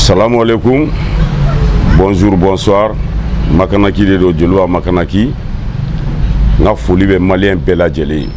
Salam alaikum, bonjour, bonsoir. Makanaki de don Joliba Makanaki. N ka foli bɛ maliyɛn bɛɛ lajɛlen ye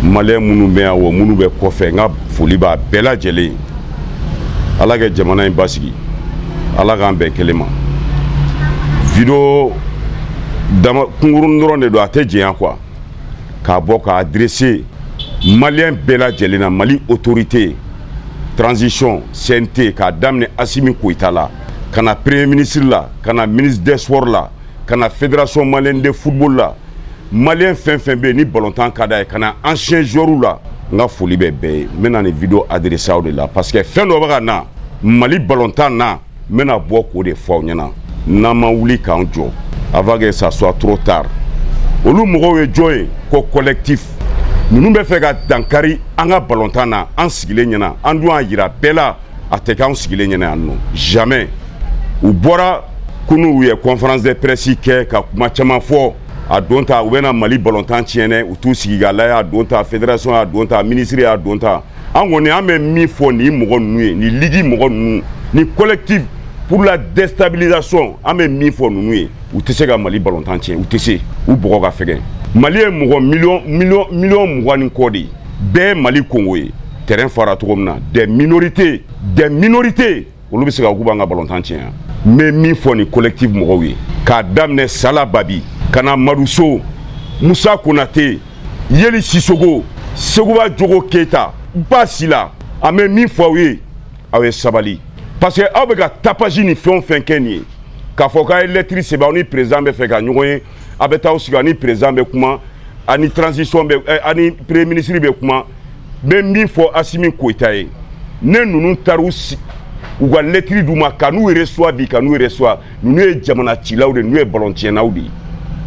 maliyɛn minnu bɛ yan wa minnu bɛ kɔfɛ n ka foli b'a bɛɛ lajɛlen ye ala ka jamana in basigi ala k'an bɛn kelen ma video dama kunkurun dɔrɔn de don a tɛ janya kuwa k'a bɔ k'a adrese maliyɛn bɛɛ lajɛlen na mali otorite transition CNT k'a daminɛ Asimi Koyita la ka na premier ministre la ka na ministre des sports la ka na fédération malienne de football la maliyɛn fɛn fɛn bɛ yen ni balontan ka d'a ye ka na ancien joueurs la n ka foli bɛ bɛɛ ye n bɛna nin video adressé aw de la parce que fɛn dɔ bɛ ka na mali balontan na n bɛna bɔ k'o de fɔ aw ɲɛna n'an ma wuli k'an jɔ avant que ça soit trop tard olu mɔgɔw ye jɔn ye ko collectif ninnu bɛ fɛ ka dankari an ka balontan na an sigilen ɲɛna an dun y'a jira bɛɛ la a tɛ kɛ anw sigilen ɲɛna yan nɔ jamais u bɔra kunu u ye conférence de presse kɛ ka kuma caman fɔ a don ta u bɛna mali balontan tiɲɛ dɛ u t'u sigi k'a lajɛ a don ta fédération y'a don ta ministre y'a don ta an kɔni an bɛ min fɔ nin mɔgɔ ninnu ye nin ligi mɔgɔ ninnu ni collectif pour la déstabilisation an bɛ min fɔ ninnu ye u tɛ se ka mali balontan tiɲɛ u tɛ se u bɔgɔ ka fɛgɛn mali ye mɔgɔ miliyɔn miliyɔn miliyɔn mugan ni kɔ de ye bɛɛ mali kongo ye terrain fara cogo min na des minorités des minorités olu bɛ se k'a fɔ k'u b'an ka balontan tiɲɛ yan n bɛ min fɔ nin collectif mɔgɔw ye k'a daminɛ sala babi ka na maduso musa konate yeli sisogo seguba jogo keyita ba sila an bɛ min fɔ aw ye aw ye sabali parce que aw bɛ ka tapage ni fɛn o fɛn kɛ nin ye k'a fɔ k'a ye lɛtiri sɛbɛn aw ni perezan bɛ fɛ ka ɲɔgɔn ye a bɛ taa sigi ani président bɛ kuma ani transition bɛ eh, ani premier ministre bɛ kuma n bɛ min fɔ asimi koyita ye ni ninnu taara u si u ka lɛtiri d'u ma kan'u recevoir bi kan'u recevoir ninnu ye jamana cilaw de ninnu ye balon tiɲɛnaw de ye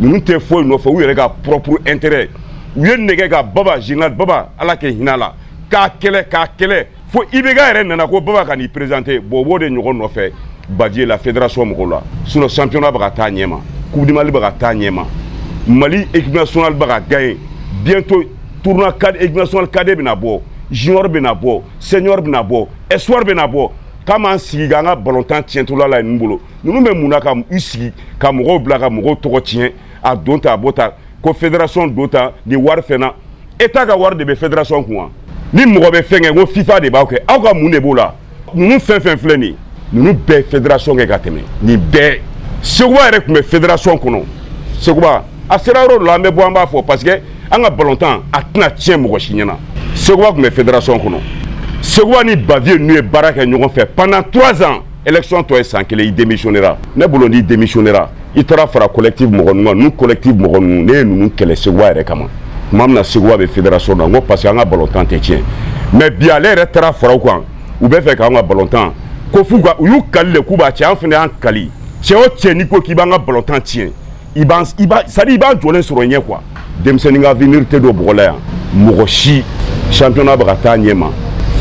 ninnu tɛ foyi nɔfɛ u yɛrɛ ka propre intérêt u ye nɛgɛ ka baba général baba ala ka hinɛ a la k'a kɛlɛ k'a kɛlɛ fo ibeka yɛrɛ nana ko baba kan'i présente bon u b'o de ɲɔgɔn nɔfɛ bavieux la fédération mɔgɔw la sinon championnat bɛ ka taa ɲɛma coupe du mali bɛ ka taa ɲɛma mali équipe nationale bɛ ka gagner bientôt tournoi cadet équipe nationale cadet bɛna bɔ junior bɛna bɔ senior bɛna bɔ espoir bɛna bɔ k'an b'an sigi k'an ka balontan tiɲɛtɔla la ninnu bolo ninnu bɛ mun na k'u sigi ka mɔgɔw bila ka mɔgɔw tɔgɔ tiɲɛ a don ta a b'o ta ko fédération don ta nin wari fɛnna état ka wari de bɛ fédération kun wa ni mɔgɔ bɛ fɛn kɛ ko fifa de b'aw kɛ aw ka mun de b'o la ninnu fɛn fɛn filɛ nin ye ninnu bɛɛ fédération kɛ ka tɛmɛ nin bɛɛ seguba yɛrɛ tun bɛ fédération kɔnɔ seguba a sera yɔrɔ dɔ la an bɛ bɔ an b'a fɔ parce que an ka balontan a tɛna tiɲɛ mɔgɔ si ɲɛna seguba tun bɛ fédération kɔnɔ seguba ni bavieux ninnu ye baara kɛ ɲɔgɔn fɛ pendant trois ans élection tɔ ye san kelen i démissionnera ne bolo n'i démissionnera i taara fara collectif mɔgɔ ninnu kan ninnu collectif mɔgɔ ninnu ne ye ninnu kɛlɛ seguwa yɛrɛ kama tuma min na seguwa bɛ fédération na n ko parce que an ka balontan tɛ tiɲɛ mais bi ale yɛrɛ taara fara u kan u bɛ fɛ k'an ka balontan ko f'u ka u y'u kali de k'u b'a tiɲɛ an fana y'an kali cɛ o cɛ n'i ko k'i b'an ka balontan tiɲɛ i b'a i b'a c'est à dire i b'an jɔlen sɔrɔ ɲɛ quoi denmisɛnnin ka avenir tɛ don bɔgɔ la yan mɔgɔ si championnat bɛ ka taa ɲɛ ma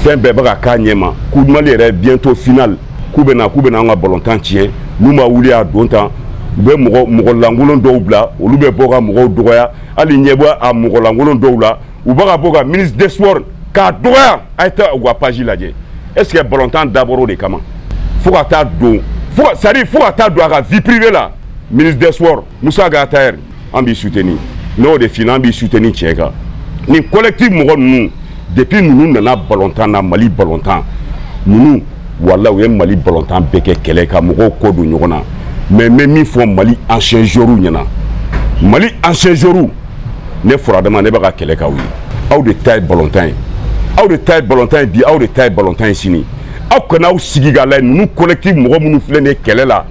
fɛn bɛɛ bɛ ka k'a ɲɛ ma coupe du mali yɛrɛ bientôt finale k'u bɛ na k'u bɛ na an ka balontan tiɲɛ n'u ma wuli a don tan u bɛ mɔgɔ mɔgɔ lankolon dɔw bila olu bɛ bɔ ka mɔgɔw dɔgɔya hali ɲɛ b'a mɔgɔ lankolon dɔw la u bɛ ka bɔ ka ministre des sports k'a dɔgɔya a ye taa u ka page lajɛ est ce que balontan dabɔra o de kama fo ka taa don fo ka c'est à dire fo ka taa don a ka vie privée la ministre des sports Moussa Ag Attaher an b'i soutenir n'o de fina an b'i soutenir tiɲɛ kan nin collectif mɔgɔ ninnu depuis ninnu nana balontan na Mali balontan ninnu wala u ye Mali balontan bɛɛ kɛ kɛlɛ ka mɔgɔw kɔ don ɲɔgɔn na mais n bɛ min fɔ Mali ancien joueurs ɲɛna Mali ancien joueurs ne furadama ne bɛ ka kɛlɛ k'aw ye aw de ta ye balontan ye aw de ta ye balontan ye bi aw de ta ye balontan ye sini aw kana aw sigi k'a lajɛ ninnu collectif mɔgɔ minnu filɛ nin ye kɛlɛ la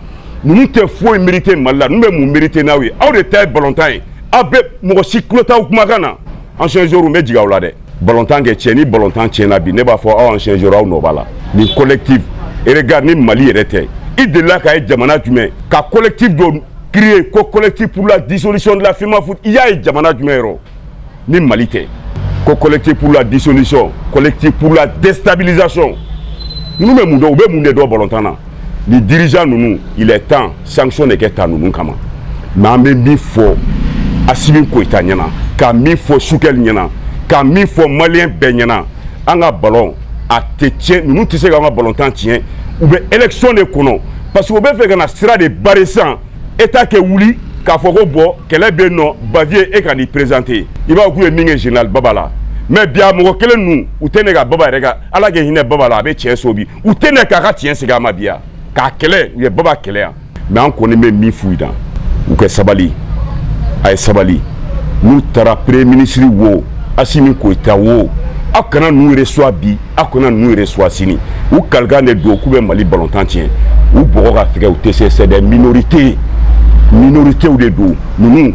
ninnu tɛ foyi merite mali la ninnu bɛ mun merite n'aw ye aw de ta ye balontan ye aw bɛ mɔgɔ si tulo t'aw kumakan na ancien joueur n bɛ jigin aw la dɛ balontan kɛ tiɲɛ ni balontan tiɲɛna bi ne b'a fɔ aw ancien joueur aw nɔ b'a la nin collectif regard ni mali yɛrɛ tɛ i delila k'a ye jamana jumɛn ka collectif dɔ créé ko collectif pour la dissolution de la FEMAFOOT i y'a ye jamana jumɛn yɔrɔ ni Mali tɛ ko collectif pour la dissolution collectif pour la déstabilisation ninnu bɛ mun dɔn u bɛ mun de dɔn balontan na nin dirigeant ninnu il est temps sanction de kɛ ta ninnu kama mais an bɛ min fɔ Asimi Koyita ɲɛna ka min fɔ Sukɛli ɲɛna ka min fɔ maliyɛn bɛɛ ɲɛna an ka balɔn a tɛ tiɲɛ ninnu tɛ se k'an ka balontan tiɲɛ u bɛ élection de kɔnɔ parce que u bɛ fɛ ka na sira de barrer sisan état kɛ wuli k'a fɔ ko bon kɛlɛ bɛ yen non bavieux e kan'i présenter i b'a fɔ k'u ye min kɛ général baba la mais bi a mɔgɔ kelen ninnu u tɛ na ka baba yɛrɛ ka ala ka hinɛ baba la a bɛ tiɲɛso bi u tɛ na k'a ka tiɲɛ segin a ma bi yan k'a kɛlɛ u ye baba kɛlɛ yan mais an kɔni bɛ min f'u dan u ka sabali a ye sabali n'u taara premier ministre wo asimi goyita wo aw kana ninnu recevoir bi aw kana ninnu recevoir sini u kalikan de don k'u bɛ mali balontan tiɲɛ u bɔgɔ ka fɛgɛ u tɛ se c'est des minorités minorités de don ninnu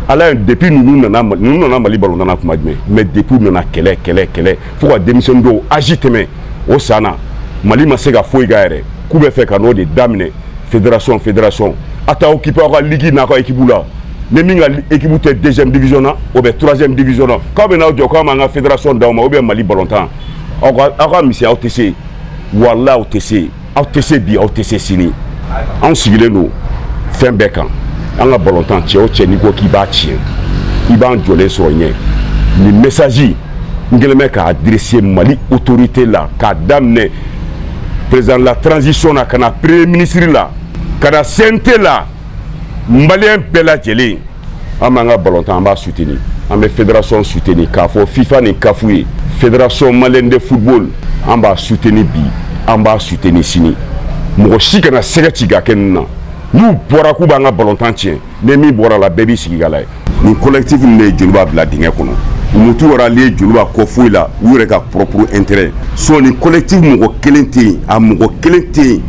a lajɛ depuis ninnu nana ninnu nana mali balontan na kuma jumɛn mais depuis u nana kɛlɛ kɛlɛ kɛlɛ fo ka denmisɛnnin dɔw âge tɛmɛ o san na mali ma se ka foyi k'a yɛrɛ k'u b'a fɛ ka n'o de daminɛ federation federation a t'aw occuper aw ka ligi n'a ka ekipu la ni min ka ekipu tɛ deuxième division na o bɛ troisième division na k'aw bɛ n'aw jɔ k'an b'an ka federation d'aw ma ou bien mali balontan aw ka aw ka misɛn aw tɛ se walayi aw tɛ se aw tɛ se bi aw tɛ se sini anw sigilen don fɛn bɛɛ kan an ka balontan cɛ o cɛ n'i ko k'i b'a tiɲɛ i b'an jɔlen sɔrɔ i ɲɛ nin message n kɛlen bɛ k'a adresser mali autorité la k'a daminɛ président la transition na ka na premier ministre la ka na cnt la maliyɛn bɛɛ lajɛlen an b'an ka balontan an b'a suteni an bɛ federasɔn suteni k'a fɔ fifa ni kafu ye federasɔn maliyɛn de football an b'a suteni bi an b'a suteni sini mɔgɔ si kana sigasiga kɛ nin na n'u bɔra k'u b'an ka balontan tiɲɛ ni min bɔra la bɛɛ b'i sigi k'a lajɛ nin collectif nin de ye joliba bila dingɛ kɔnɔ u ma t'u rallier joliba kɔ foyi la u yɛrɛ ka propre intérêt sinon nin collectif mɔgɔ kelen tɛ yen a mɔgɔ kelen tɛ yen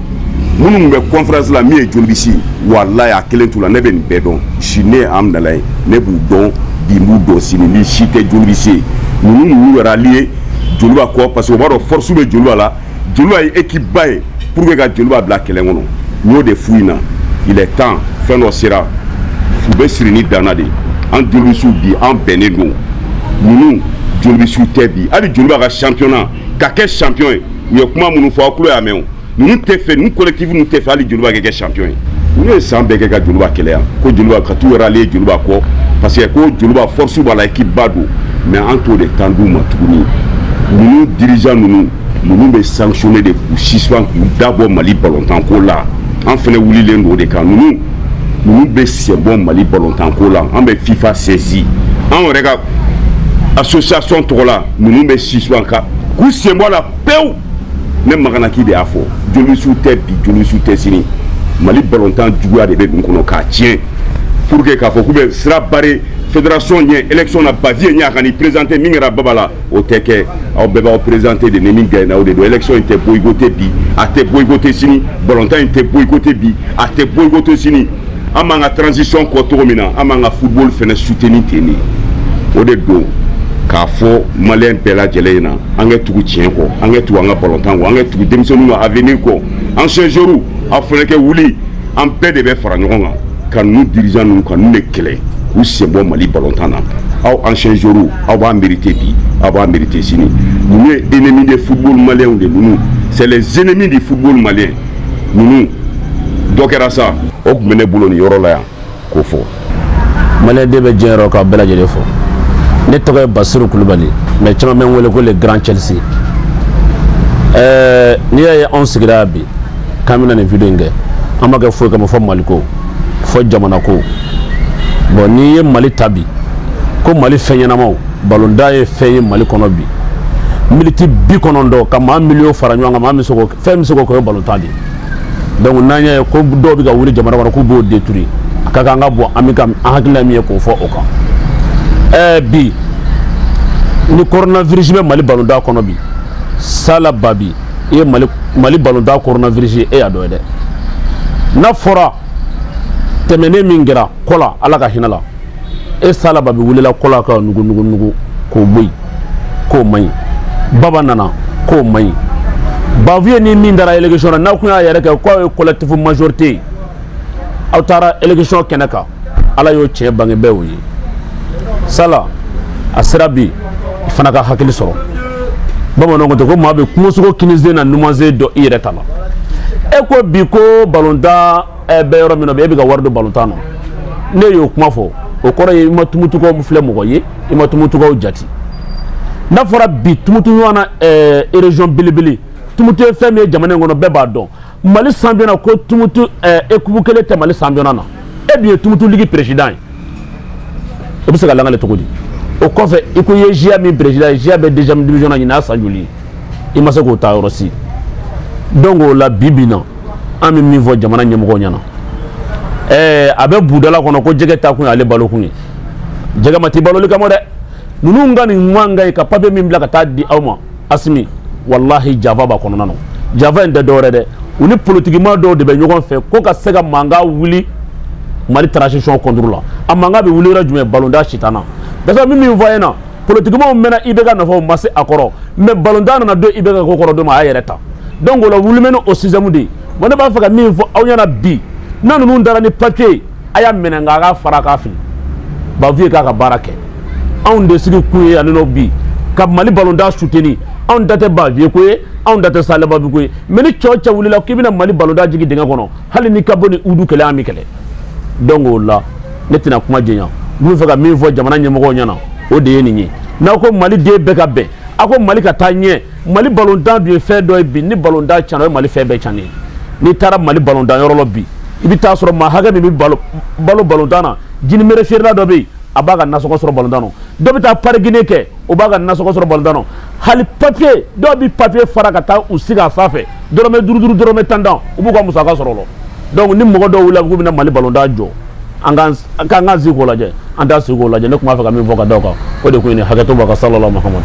minnu tun bɛ conference la min ye jolibisi ye walayi a kelen t'u la ne bɛ nin bɛɛ dɔn si ne ye amdala ye ne b'u dɔn bi n b'u dɔn sini nin si tɛ jolibisi ye ninnu ninnu y'u rallier joliba kɔ parce que u b'a dɔn force bɛ joliba la joliba ye équipe ba ye pour que ka joliba bila kɛlɛ kɔnɔ n y'o de f'u ɲɛna il est temps fɛn dɔ sera u bɛ siri ni danna de an jolibisiw bi an bɛnnen don ninnu jolibisiw tɛ bi hali joliba ka championnat ka kɛ champion ye u ye kuma minnu fɔ aw tulo y'a mɛn o ninnu t'a fɛ ninnu collectif ninnu t'a fɛ hali joliba ka kɛ champion ye ninnu ye san bɛɛ kɛ ka joliba kɛlɛ yan ko joliba ka t'u rallier joliba kɔ parce que ko joliba force b'a la équipe ba don mais an t'o de temps d'u ma tuguni ninnu dirigeant ninnu ninnu bɛ sanctionner de k'u suspend k'u dabɔ mali balontan ko la an fɛnɛ wulilen don o de kan ninnu ninnu bɛ senbɔ mali balontan ko la an bɛ fifa saisi an yɛrɛ ka association tɔgɔ la ninnu bɛ suspend ka k'u senbɔ la pewu ne maganaki de y'a fɔ jolibisiw tɛ bi jolibisiw tɛ sini mali balontan juguya de bɛ ninnu kɔnɔ k'a tiɲɛ pour que k'a fɔ k'u bɛ sira bare fédération ɲɛ élection na bavieux ɲɛ a kan'i présenté min kɛra baba la o tɛ kɛ aw bɛɛ b'aw présenté de ni min gaɲena o de don élection in tɛ boyikote bi a tɛ boyikote sini balontan in tɛ boyikote bi a tɛ boyikote sini an b'an ka transition kɔ cogo min na an b'an ka football fana soutenir ten de o de don k'a fɔ maliyɛn bɛɛ lajɛlen in na an kɛ tugu tiɲɛ kɔ an kɛ tugu an ka balontan kɔ an kɛ tugu denmisɛnninw ka avenir kɔ anciens joueurs aw fana kɛ wuli an bɛɛ de bɛ fara ɲɔgɔn kan ka ninnu dirigeant ninnu ka ninnu de kɛlɛ k'u senbɔ mali balontan na aw anciens joueurs aw b'a merite bi aw b'a merite sini ninnu ye ennemi de football maliyɛnw de ninnu c'est les ennemis du football malien ninnu dɔ kɛra sa o tun bɛ ne bolo nin yɔrɔ la yan k'o fɔ maliyɛn den bɛ diɲɛ yɔrɔ k'aw bɛɛ lajɛlen fo ne tɔgɔ ye basiru kulubali mais caman bɛ n wele ko le grand chelsea ɛɛ n'i y'a ye anw sigira bi k'an bɛna nin video in kɛ an m'a kɛ foyi kama fo maliko fo jamanako bon n'i ye mali ta bi ko mali fɛn ɲɛnamaw balontan ye fɛn ye mali kɔnɔ bi miniti bi kɔnɔntɔn ka maa miliyɔn fara ɲɔgɔn kan maa min se k'o kɛ fɛn bɛ se k'o kɛ o ye balontan de ye donc n'an y'a ye ko dɔw bɛ ka wuli jamana kɔnɔ k'u b'o détruire a ka kan an ka bɔ an bɛ ka an hakilina min ye k'o fɔ o kan ɛɛ bi ni coronavirus bɛ mali balontan kɔnɔ bi sala babi i ye mali mali balontan coronavirus ye e y'a dɔn ye dɛ n'a fɔra tɛmɛnen min kɛra kola ala ka hinɛ a la e sala babi wulila kola ka nugu nugu nugu k'o bɔ yen k'o man ɲi baba nana k'o man ɲi bavieux ni min taara élection na n'aw tun y'aw yɛrɛ kɛ k'aw ye collectif majorité ye aw taara élection kɛnɛ kan ala y'o tiɲɛ bange bɛɛ y'o ye sala a sera bi i fana ka hakili sɔrɔ bamananw ko ten ko maa bɛ kungosogo kinisen n'a numansen dɔn i yɛrɛ ta la e ko bi ko balontan ɛ bɛ yɔrɔ min na bi e bɛ ka wari don balontan na n'e y'o kuma fɔ o kɔrɔ ye i ma tumutukaw filɛ mɔgɔ ye i ma tumutukaw jate n'a fɔra bi tumutu ɲɔgɔn na ɛɛ région belebele tumutu ye fɛn min ye jamana in kɔnɔ bɛɛ b'a dɔn mali championnat ko tumutu ɛɛ équipe kelen tɛ mali championnat na e dun ye tumutu ligi peresidan ye o bɛ se ka lakali cogo di o kɔfɛ i ko i ye ziya min peresidan ye ziya bɛ deuxième division na ɲinan san joli i ma se k'o ta yɔrɔ si donc o la bi bi in na an bɛ min fɔ jamana ɲɛmɔgɔw ɲɛna ɛɛ a bɛ budala kɔnɔ ko jɛgɛ ta kun y'ale balokun ye jɛgɛ ma t'i baloli kama dɛ ninnu ŋaniya man ka ɲi ka papiye min bila ka taa di aw ma asimi walahi janfa b'a kɔnɔna na janfa in tɛ dɔwɛrɛ dɛ u ni politikima dɔw de bɛ ɲɔgɔn fɛ ko ka se ka mankan wuli mali transition contre la a mankan bɛ wuli yɔrɔ jumɛn balontan sitana dasa min min fɔ a ye na politikimaw mɛnna ibk nɔfɛ u ma se a kɔrɔ mais balontan nana don ibk ko kɔrɔ don ma a y'a yɛrɛ ta donc o la wuli bɛ ni o système de ye bon ne b'a fɛ ka min fɔ aw ɲɛna bi ni ninnu taara ni papier ye a y'a minɛ nka a k'a fara k'a fili baviye k'a ka baara kɛ anw de sigi kun ye ani n'o bi ka mali balontan suteni anw da tɛ baviye ko ye anw da tɛ salebabi ko ye mɛ ni cɛ o cɛ wulila k'i bɛna mali balontan jigin dingɛ kɔnɔ hali n'i ka bon ni udu kulu ye an b'i kɛlɛ donc o la ne tɛna kuma janya n tun b'a fɛ ka min fɔ jamana ɲɛmɔgɔw ɲɛna o de ye nin ye n'aw ko mali den bɛɛ ka bɛn aw ko mali ka taa ɲɛ mali balontan dun ye fɛn dɔ ye bi ni balontan cana o ye mali fɛn bɛɛ cannen ye n'i taara mali balontan yɔrɔ la bi i bɛ t'a sɔrɔ maa hakɛ min bɛ balo balo balontan na jinimere feerela dɔ bɛ yen a b'a ka nasɔngɔ sɔrɔ balontan na dɔ bɛ taa parikingi kɛ o b'a ka nasɔngɔ sɔrɔ balontan na hali papiye dɔw bɛ papiye fara ka taa u sigi a fa fɛ dɔrɔmɛ duuru duuru dɔrɔmɛ tan tan u b'u ka musaka sɔrɔ o la donc ni mɔgɔ dɔw wulila k'u bɛna mali balontan jɔ an k'an k'an sigi k'o lajɛ an t'an sigi k'o lajɛ ne tun b'a fɛ ka min fɔ ka da o kan o de ko in hakɛto b'a kan salala mahamadu